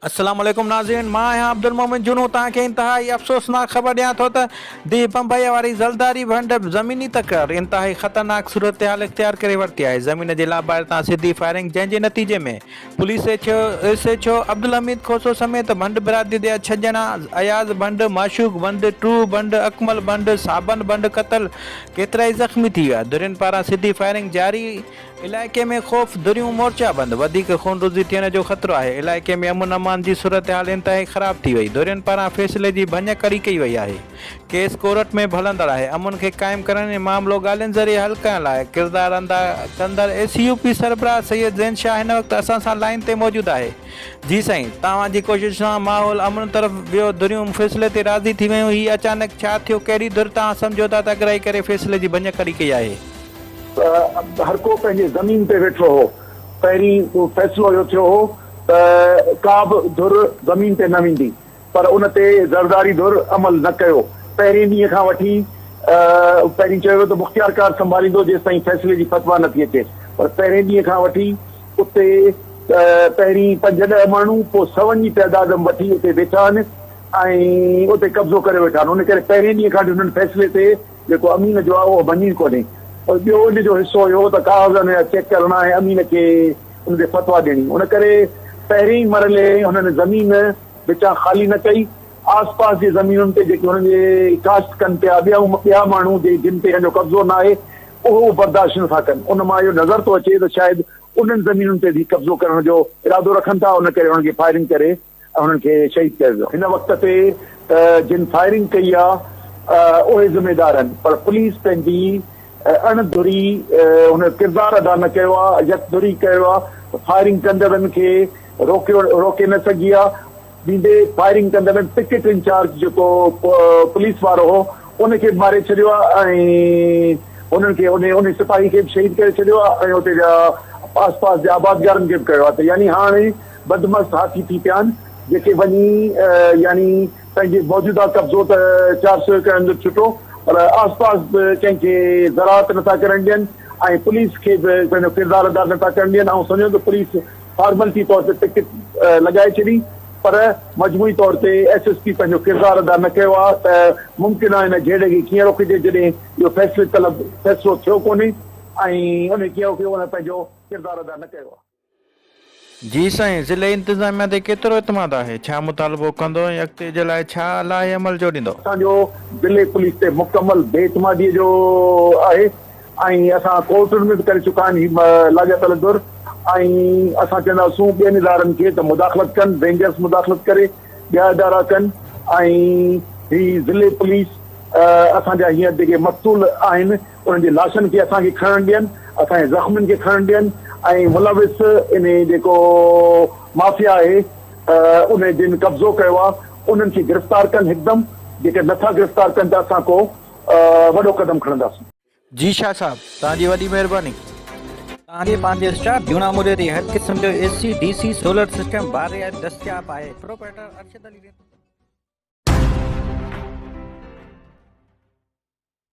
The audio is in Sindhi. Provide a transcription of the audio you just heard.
السلام عليڪم ناظرين مان آهيان عبدالمومن جنو توهان کي انتهائي افسوسناڪ خبر ڏيان ٿو ته ديھ بمبئي واري زلداري ونڊ زميني تڪرار انتهائي خطرناڪ صورتحال اختيار ڪري ورتي آهي زمين جي لاباري تان سڌي فائرنگ جنهن جي نتيجي ۾ police H O, S H O, Abdul Hameed Khoso سميت ڀنڊ برادري جا ڇهه ڄڻا اياز ڀنڊ، معشوق ڀنڊ، ٽوهه ڀنڊ، اڪمل ڀنڊ، صابن ڀنڊ قتل، ڪيترائي زخمي ٿي ويا، ڌرين پاران سڌي فائرنگ جاري، علائقي ۾ خوف، ڌريون مورچا بند، وڌيڪ خونريزي ٿيڻ جو خطرو آهي، علائقي ۾ امن امان جي صورتحال انتهائي خراب ٿي وئي، ڌرين پاران فيصلي جي ڀڃڪڙي ڪئي وئي آهي. ڪيس ڪورٽ ۾ به هلندڙ آهي، امن کي قائم ڪرڻ ۽ معاملو ڳالهين ذريعي حل ڪرڻ لاء ڪردار اندا ڪندڙ اي سي يو پي سربراهه سيد زين شاهه هن وقت اسان سان لائين تي موجود آهي. جي سائين، توهان جي ڪوشش سان ماحول امن طرف ويو، ڌريون فيصلي تي راضي ٿي ويون، هي اچانڪ ڇا ٿيو، ڪهڙي ڌر توهان سمجهو ٿا ته اڳرائي ڪري فيصلي جي ڀڃ کڙي ڪئي آهي؟ هرڪو پنهنجي زمين تي ويٺو هو، پهرين فيصلو اهو ٿيو هو ته ڪا به ڌر زمين تي نه ويندي، پر ان تي زرداري ڌر عمل نه ڪيو. پهرين ڏينهن کان وٺي پهرين چيو ويو ته مختيار ڪار سنڀاليندو جيستائين فيصلي جي فتويٰ نه ٿي اچي پر پهرين ڏينهن کان وٺي اتي پهرين پنج ڏهه ماڻهو پوء سون جي تعداد م وٺي اتي ويٺا آهن ۽ اتي قبضو ڪري ويٺا آهن ان ڪري پهرين ڏينهن کان انهن فيصلي تي جيڪو امين جو آهي اهو مڃيو ڪونهي پر ٻيو ان جو حصو اهو هو ته ڪاغذ آڻي چيڪ ڪرڻا ۽ امين کي ان تي فتويٰ ڏيڻي، ان ڪري پهرين مرحلي هنن زمين وچان خالي نه ڪئي، آس پاس جي زمينن تي جيڪي هنن جي ڪاشت ڪن پيا، ٻيا ماڻهو جن تي هن جو قبضو ناهي، اهو هو برداشت نه ٿا ڪن، ان مان اهو نظر ٿو اچي ته شايد انهن زمينن تي به قبضو ڪرڻ جو ارادو رکن ٿا، ان ڪري انهن کي فائرنگ ڪري. ۽ انهن کي شهيد ڪيو ويو. هن وقت تي ته جن فائرنگ ڪئي آ اهي ذميدار آهن پر پوليس پنهنجي اڻ ڌري هن جو ڪردار ادا نه ڪيو آ يڪ ڌري ڪيو آ فائرنگ ڪندڙن کي روڪيو روڪي نه سگهي آ ويندي فائرنگ ڪندڙن پڪيٽ انچارج جيڪو پوليس وارو هو ان کي به ماري ڇڏيو آ ۽ انهن کي انهي انهي سپاهي کي به شهيد ڪري ڇڏيو آ ۽ اتي جا آس پاس جي آبادگارن کي به ڪيو آ ته يعني هاڻي بدمست هاٿي ٿي پيا آهن، جيڪي وڃي يعني پنهنجي موجوده قبضو ته چار سو ايڪڙ اندر ڇٽو پر آس پاس به ڪنهن کي زراعت نه ٿا ڪرڻ ڏين ۽ پوليس کي به پنهنجو ڪردار ادا نه ٿا ڪرڻ ڏين آئون سمجهان ٿو پوليس فارملٽي طور تي پڪٽ لڳائي ڇڏي پر مجموعي طور تي ايس ايس پي پنهنجو ڪردار ادا نه ڪيو آهي ته ممڪن آهي ان جهيڙي کي ڪيئن روڪجي جڏهن اهو فيصلي طلب فيصلو ٿيو ڪونهي ۽ ان کي ڪيئن روڪجي ان پنهنجو ڪردار ادا نه ڪيو آهي. جي سائين، ضلعي انتظاميا تي ڪيترو اعتماد آهي؟ ڇا مطالبو ڪندو ۽ اڳتي جي لاء ڇا لائحه عمل جوڙيندو؟ اسان جو ضلعي پوليس تي مڪمل بي اعتمادي جو آهي ۽ اسان ڪورٽن ۾ به ڪري چڪا آهن هي لاڳاپيل ڌر ۽ اسان چونداسون ٻين ادارن کي ته مداخلت ڪن رينجرز مداخلت ڪري ٻيا ادارا ڪن ۽ هي ضلعي پوليس اسان جا هينئر جيڪي مقتول آهن انهن جي لاشن کي اسان کي کڻڻ ڏين، اسان جي زخمين کي کڻڻ ڏين ۽ ملوث انهي جيڪو مافيا آهي انهي جن قبضو ڪيو آهي انهن کي گرفتار ڪن هڪدم، جيڪڏهن نه ٿا گرفتار ڪن ته اسان ڪو وڏو قدم کڻنداسين. جي شاهه صاحب توهان جي وڏي مهرباني. توهان کي پنهنجي اسٽاف جوڻا موري تي هر قسم جو A C D C solar system بار رعايت دستياب آهي پروپرائيٽر ارشد علي ريتو.